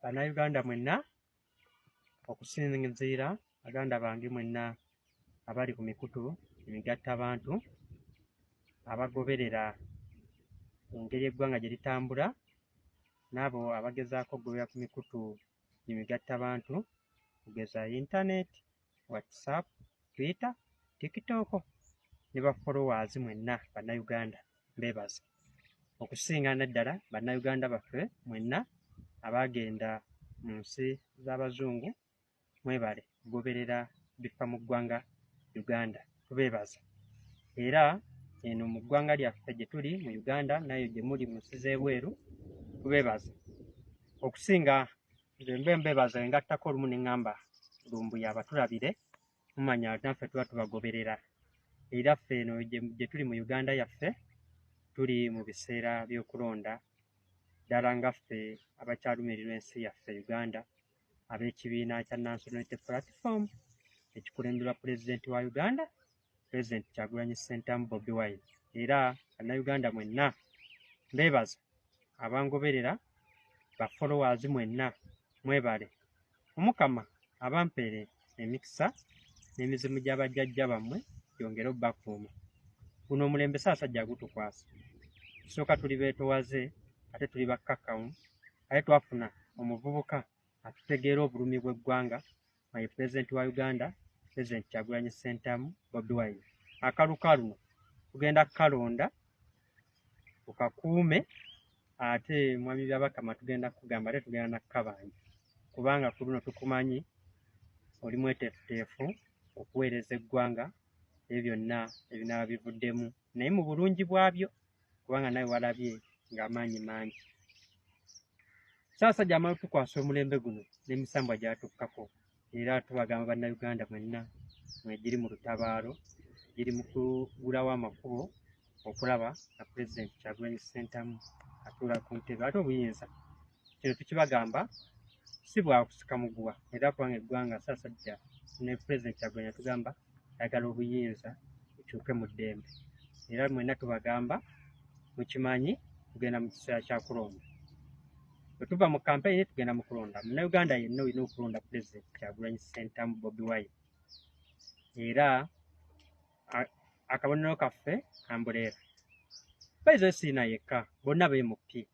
Bannayuganda mwenna okusinziira baganda bange mwenna abali ku mikutu emigatta bantu abagoberera engeri eggwanga gye litambula n'abo abagezaako okugobera ku mikutu emigatta bantu okugeza yintaneti whatsapp twitter tiktok ne ba followers mwenna bannayuganda mbebaza okusinga naddala bannayuganda baffe mwenna abaagenda mu nsi z'abazungu mwebale kugoberera bifa mu ggwanga uganda tubeebaza era eno mu ggwanga lyaffe gye tuli mu uganda nayo gye muli mu nsi z'ebweru tubeebaza okusinga nze mbe mbebaza engattako olumu ne ŋŋamba lumbuye abatulabire mumanya naffe tuba tubagoberera era ffe eno gye tuli mu uganda yaffe tuli mu biseera by'okulonda ddala nga ffe abakyalumirirwa ensi yaffe uganda ab'ekibiina kya nansonality platform ekikulemberwa pulezidenti wa uganda President Kyagulanyi Ssentamu Bobi Wine era Bannayuganda mwenna mbeebaza abangoberera ba followers mwenna mwebale omukama abampeere emikisa n'emizimu gya bajjajja bammwe gyongere obbakuuma guno omulembe saasajja agutukwasa tusooka tuli beetowaze ate tuli bakkakkamu ate twafuna omuvubuka atutegeera obulumi bw'eggwanga my president wa uganda president kyagulanyi sentamu bobi wine akalu kaluno kugenda kukalonda ukakuume ate mwami byabakama tugenda kugamba ate tugenda nakukabanja kubanga ku luno tukumanyi oli mweteefuteefu okuweereza eggwanga ebyo byonna ebinaaba bivuddemu naye mu bulungi bwabyo kubanga nawe walabye ng'amaanyi mangi saasajja amala tukwasa omulembe guno n'emisambwa gyatukkako era tubagamba bannayuganda mwenna mwegiri mu lutabaalo giri mu kugulawo amakubo okulaba nga pulezidenti kyagulanyi ssentamu atuula ku ntebe ate obuyinza kino tukibagamba si bwakusika muguwa era kubanga eggwanga sasajja ne pulezidenti kyagwenya tugamba ayagala obuyinza bukyuke mu ddembe era mwena tubagamba mukimanyi tugenda mu kiseera kya kulonda bwe tuva mu kampeyini tugenda mu kulonda munauganda yenna olina okulonda pulezidenti kyagulanyi sentamu bobi wine era akabonero kaffe ambuleera baizo esiina yekka bonna bemupi